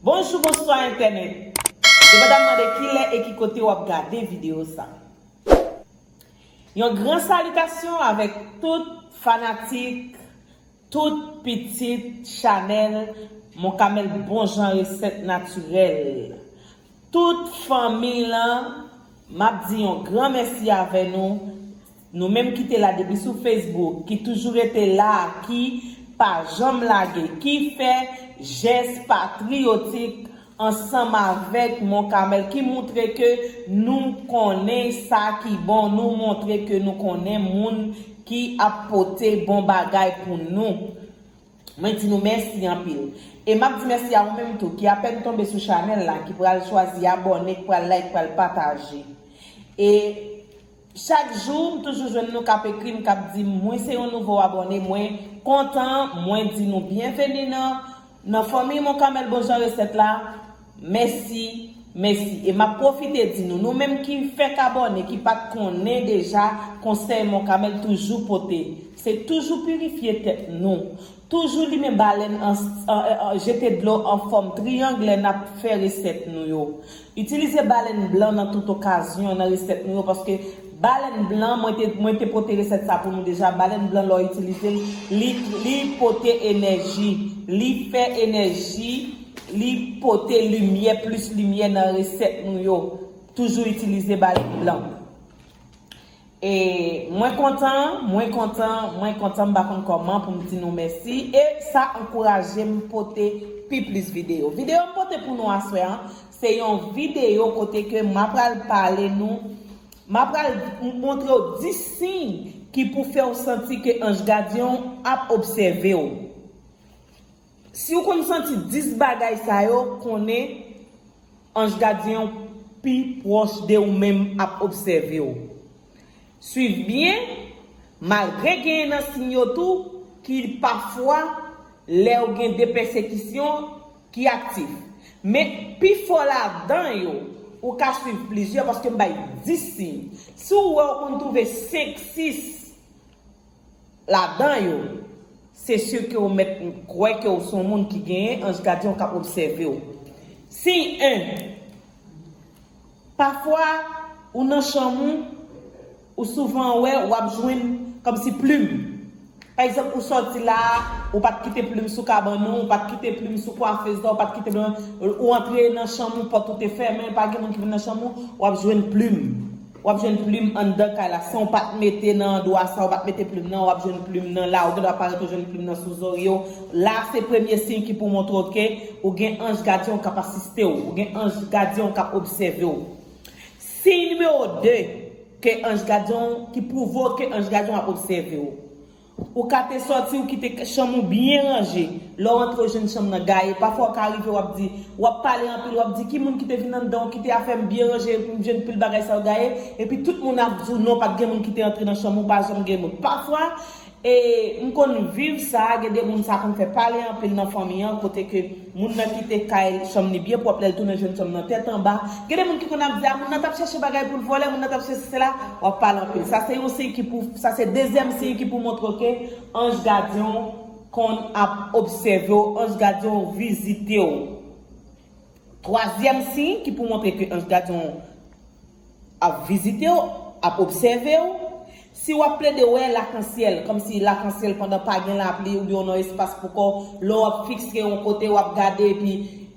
Bonjou bonswa entènèt Yo pa ta mande kilè e ki kote wap gade video sa Yon gran salitasyon avèk tout fanatik Tout pitit chanel mon camel bon jan reset naturel tout fanmiy lan map di yon gran mèsi avè nou nou menm ki te la depi sou Facebook ki toujou rete la ki pa janm lage ki fè jès patriotik ansanm avèk Mont Carmel ki moutre ke nou konnen sa ki bon, nou moutre ke nou konnen moun ki ap pote bon bagay pou nou. Mwen di nou mèsi anpil. E m ap di mèsi a ou menm tou ki apèn tonbe sou chanèl la, ki pral chwazi abòne, k pral like, k pral pataje. E. Chak jou m toujou jwenn nou kap ekrim kap dim mwen se yon nouvo abòne mwen kontan mwen di nou byenveni nan nan fanmiy mon kamèl bon jan resèt la mèsi mèsi e map pwofite di nou nou menm ki fèk abòne ki pat konnen deja konsèy mon kamèl toujou pote se toujou pirifye tèt nou toujou limen balèn an jete dlo anfòm triyang lè nap fè resèt nou yo Itilize balèn blan nan tout okazyon nan resèt nou yo paske balèn blan mwen te mwen te pote resèt sa pou nou deja balèn blan lè w itilize l li li pote enèji li fè enèji li pote limyè plis limyè nan resèt nou yo toujou itilize balèn blan. E mwen kontan, mwen kontan, mwen kontan m pa konn kòman pou m di nou mèsi e sa ankouraje m pote pi plis videyo. Videyo m pote pou nou aswè an, se yon videyo kote ke m apral pale nou, m apral montre w 10 siy ki pou fè w santi ke anj gadyen w ap obsève w. Siw konn santi 10 bagay sa yo konnen anj gadyen w pi pwòch de ou menm ap obsève w. Swiv byen, malgre genyen nan siy yo tou ki pafwa lèw gen de pèsekisyon ki aktif. Men pifò ladan yo ou ka swiv plizyè paske m bay 10 siy. Siw wè ou konn twouve 5, 6. Ladan yo, se si ke ou mèt kwè ke ou se yon moun ki genyen anj gadyen ou k ap obsève ou. Siy 1, Pafwa, ou nan chanm ou, ou souvan wè w ap jwenn kòmsi plim. Pa egzanp, ou sòti la a, ou pa t kite plim sou kabann ou, ou pa t kite plim sou kwafez la, ou pa t kite plim, ou antre nan chanm ou, pòt ou te fèmen, pa gen moun ki vin nan chanm ou, w ap jwenn plim. Wap jwenn plim anndan kay la sanw pat mete nan dwa sa ou pat mete plim nan wap jwenn plim nan la ou gen dwa parèt ou jwenn plim nan sou zoryew la se premye siy ki pou montrew ke ou gen anj gadyenw kap asistew ou gen anj gadyenw kap obsèvew siy nimewo 2 ke anj gadyenw ki pwouvew ke anj gadyenw ap obsèvew. Ou ka te sòti ou kite chanm ou byen ranje. Lè w antre ou jwenn chanm nan gaye. Pafwa ou ka rive w ap di, w ap pale anpil, w ap di ki moun ki te vin anndan ou kite afè m byen ranje epi m jwenn pil bagay sa yo gaye. Epi tout moun ap di w non pa t gen moun ki te antre nan chanm ou pa janm gen moun. Pafwa e m konn viv sa, gen de moun sa konn fè pale anpil nan fanmi an kote ke. Moun nan kite kay, chanm li byen pwòp lè l tounen jwenn chanm nan tèt anba. Gen de moun ki konn ap di a moun nan t ap chèche bagay pou l vòlè, moun nan t ap chèche sèla, w ap pale anpil. Sa se yon siy ki pou, sa se dezyèm siy ki pou montre w ke anj gadyen w konn ap obsève w, anj gadyen w vizite w. Twazyèm siy ki pou montre ke anj gadyen w. Ap vizite w, ap obsève w, si w ap plede wè lakansyèl, kòmsi lakansyèl pandan pa gen lapli oubyen w nan espas pou kò, lè w ap fikse yon kote w ap gade epi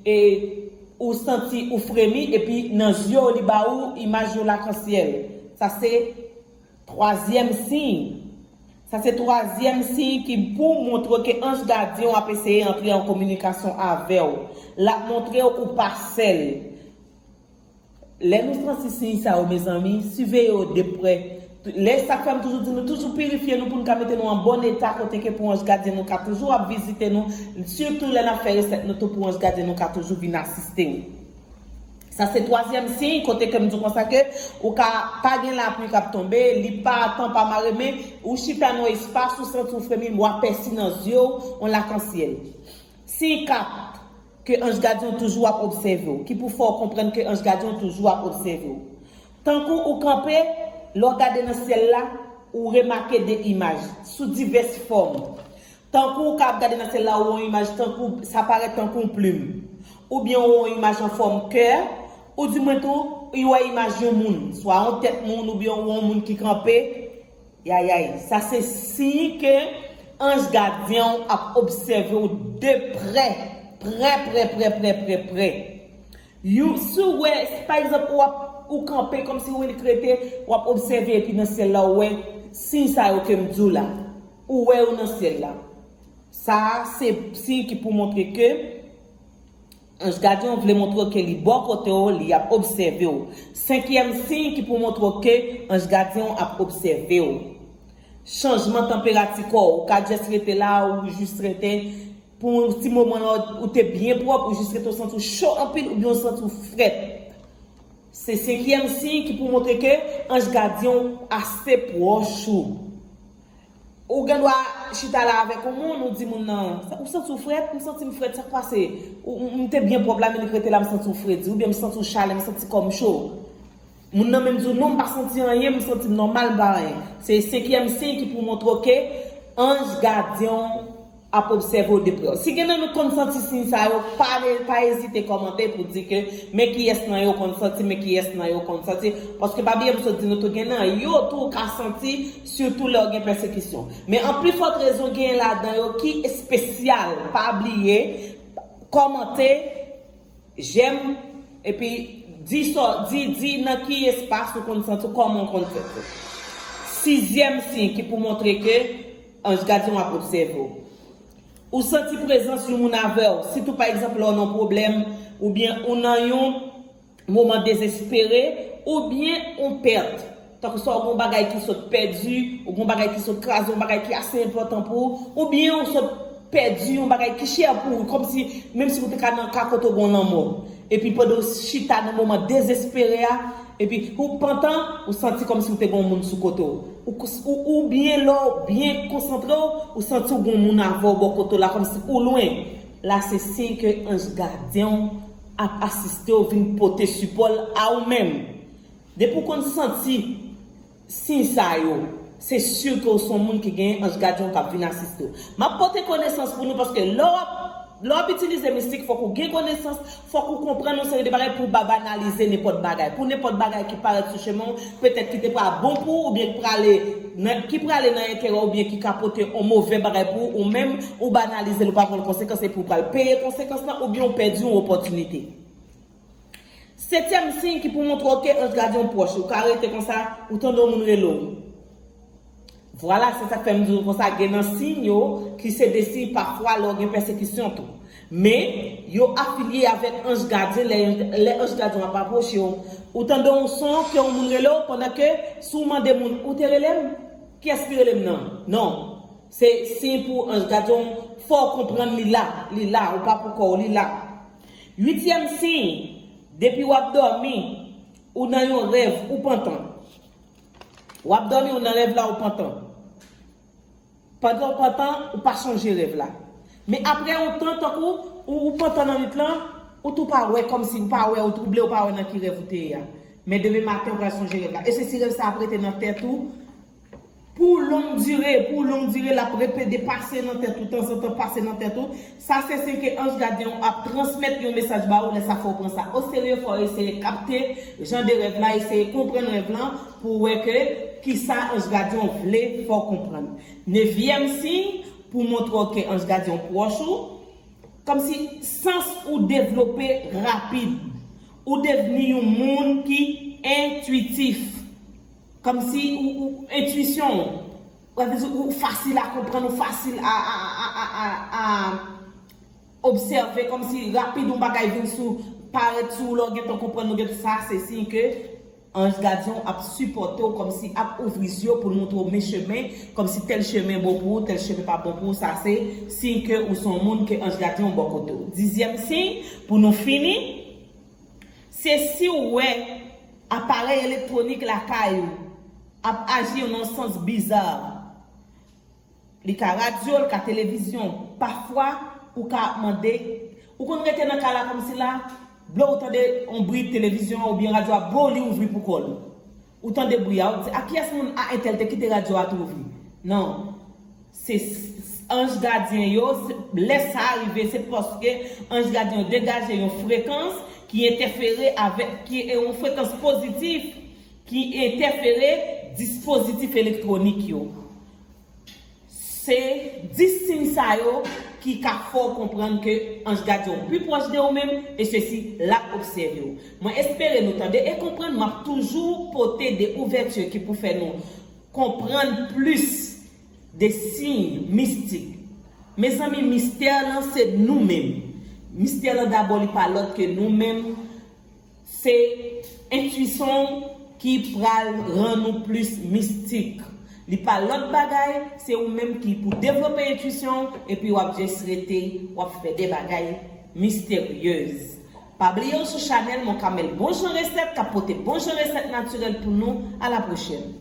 e ou santi ou fremi epi nan zye w li ba ou imaj yon lakansyèl. Sa se twazyèm siy. Sa se twazyèm siy ki pou montre ke anj gadyen w ap eseye antre an kominikasyon avè w. L ap montre w ou pa sèl. Lè nou santi siy sa yo mezanmi, siveye yo de prè. Lè sa k fè m toujou di nou toujou pirifye nou pou n ka mete nou an bon eta kote ke pou anj gadyen nou ka toujou ap vizite nou, sitou lè n ap fè resèt nou tou pou anj gadyen nou ka toujou vin asiste ou. Sa se twazyèm siy kote ke m di w konsa ke ou ka pa gen lapli k ap tonbe, li pa tan pa mare men ou chita nan yon espas ou santi w fremi, w apèsi nan zye w yon lakansyèl. Siy kap, ke anj gadyen w toujou ap obsève w, ki pou fè w konprann ke anj gadyen w toujou ap obsève w. Tankou ou kanpe, lè w gade nan syèl la, ou remake de imaj, sou divès fòm. Tankou ou ka ap gade nan syèl la ou wè yon imaj tankou, sa parèt tankou yon plim. Oubyen ou wè yon imaj an fòm kè, ou di mwen tou, ou wè imaj yon moun, swa yon tèt moun oubyen ou wè yon moun ki kanpe, Yayay, sa se siy ke anj gadyen w ap obsève w de prè, prè prè prè prè prè prè. Yon, si w wè, si pa egzanp ou ap, ou kanpe kòmsi ou ret rete, w ap obsève epi nan syèl la ou wè siy sa yo ke m di w la. Ou wè yo nan syèl la. Sa a se siy ki pou montre ke Anj gadyen w vle montre w ke li bò kote w, li ap obsève w. Senkyèm siy ki pou montre w ke anj gadyen w ap obsève w. Chanjman tanperati kò w. Ou ka just rete la a ou jis rete pou yon ti moman la ou te byen pwòp ou jis rete ou santi w cho anpil oubyen ou santi w frèt. Se senkyèm siy ki pou montre ke anj gadyen w ase pwòch ou. Ou gen dwa chita la avèk yon moun, ou di moun nan, ou santi w frèt, m santi m frèt, sa k pase? M te byen pwòp la men li k rete la m santi w fredi, oubyen m santi w chale, m santi kò m cho. Moun nan menm di w non m pa santi anyen, m santi m nòmal m pa anyen. Se senkyèm siy ki pou w montre w ke anj gadyen w ap obsève w de prè. Si gen nan nou k konn santi siy sa yo, pa pa ezite kòmante pou di ke men kiyès nan yo konn santi, men kiyès nan yo konn santi, paske pa bliye m sot di nou tou gen nan yo tou ou ka santi sitou lè w gen pèsekisyon. Men an pli fòt rezon genyen ladan yo ki espesyal, pa bliye kòmante, jèm, epi di sa w, di, di nan ki espas ou konn santi w, kòman w konn santi w. Sizyèm siy ki pou montre ke. Ange Gardien wap obsève w. Ou santi prezans yon moun avèw, sitou pa egzanp lè w nan pwoblèm, oubyen ou nan yon moman dezespere, oubyen yon pèt. Tankou sa ou gen yon bagay ki sot pèdi, ou gen yon bagay ki sot kraze, yon bagay ki ase enpòtan pou ou, oubyen ou sot pèdi yon bagay ki chè pou ou, kòmsi menmsi ou te ka nan ka kote ou gen yon lanmò. Epi pandan w chita nan moman dezespere a, epi ou pantan, ou santi kòmsi ou te gen yon moun sou kote w. Oubyen lè w byen konsantre w, ou santi w gen yon moun avè w bò kote w la kòmsi ou lwen. La se siy ke anj gadyen w ap asiste w vin pote sipò l a ou menm. Depi w konn santi siy sa yo, se sur ke w s on moun ki genyen anj gadyen w k ap vin asiste w. M ap pote konesans pou nou paske lè w ap lè w ap itilize mistik fòk ou gen konesans, fòk ou konprann yon seri de bagay pou w pa banalize nenpòt bagay, pou nenpòt bagay ki parèt sou chemen w petèt ki te pral bon pou ou oubyen k prale nan ki prale nan enterè w oubyen ki ka pote on move bagay pou ou, ou menm ou banalize l ou pa konn konsekans epi w pral peye konsekans lan oubyen w pèdi on opòtinite. Setyèm siy ki pou montre w te antrave yon pwòch ou ka rete konsa ou tande yon moun rele w. Vwala se sak fè m di w konsa gen nan siy yo ki se de siy pafwa lè w gen pèsekisyon tou. Men, yo afilye avèk anj gadyen lè yon lè anj gadyen w ap apwoche w ou tande yon son ke yon moun rele w pandan ke si w mande moun ou te rele m? Kiyès ki rele m nan? Non. Se siy pou anj gadyen w fè w konprann li la, li la, ou pa poukò w, li la. Uityèm siy, Depi w ap dòmi, ou nan yon rèv, ou pantan. W ap dòmi, ou nan rèv la, ou pantan. Pandan w pantan, ou pa sonje rèv la. Men apre yon tan, tankou ou pantan nan nwit lan, ou tou pa wè, kòmsi ou pa wè, ou twouble, ou pa wè nan ki rèv ou te ye a. Men demen maten, ou pral sonje rèv la. E se si rèv sa ap rete nan tèt ou, Pou long dire, pou long dire, l'ap repede pase nan tèt ou tanzantan, pase nan tèt ou, sa se siy ke anj gadyen ou ap transmèt yon mesaj ba ou, lè sa fò ou pran sa o serye, fò ou eseye kapte jan de rèv la, eseye konprann rèv la pou ou wè ke kisa anj gadyen ou vle fè ou konprann. Nevyèm siy, pou montre ou ke anj gadyen ou pwòch ou, kòmsi sans ou devlope rapid, ou devni yon moun ki entwitif. Kòmsi ou ou entuisyon ou. Wè vle di ou fasil a konprann ou fasil a a obsève kòmsi rapid yon bagay vin sou parèt sou ou lè w gen tan konprann ou gen tan sa se siy ke anj gadyen w ap sipòte w kòmsi ap ouvri zye w pou l montre w men chemen kòmsi tèl chemen bon pou ou tèl chemen pa bon pou ou sa se siy ke ou se yon moun ke anj gadyen w bò kote w. Dizyèm siy pou nou fini. Se si w wè aparèy elektwonik lakay ou ap aji yon nan sans bizarre. Li ka radyo, li ka televizyon. Pafwa, ou ka ap mande, ou konn rete nan kay la kòm si la, blo ou tande yon bri televizyon an oubyen radyo a boo li ouvri pou kò l. Ou tande bri a, ou di a kiyès moun a entèl te kite radyo a twouvi. Non. Se anj gadyen yo, lè sa rive se paske anj gadyen yo degaje yon frekans ki entèfere avèk, ki yon frekans pozitif ki entèfere dispozitif elektwonik yo. Se 10 siy sa yo ki ka fè w konprann ke anj gadyen w pi pwòch de ou menm e sesi l ap obsève w. Mwen espere nou tande e konprann, m ap toujou pote de ouvèti ki pou fè nou konprann plis De siy mistik. Mezanmi mistè lan se nou menm. Mistè lan dabò li pa lòt ke nou menm. Se entuisyon w ki pral rann ou plis mistik. Li pa lòt bagay, se ou menm ki pou devlope entuisyon w epi wap just rete wap fè de bagay misteryez. Pa bliye w sou chanèl Mon Camel bon jan resèt kap pote bon jan resèt natirèl pou nou, a la pwochèn.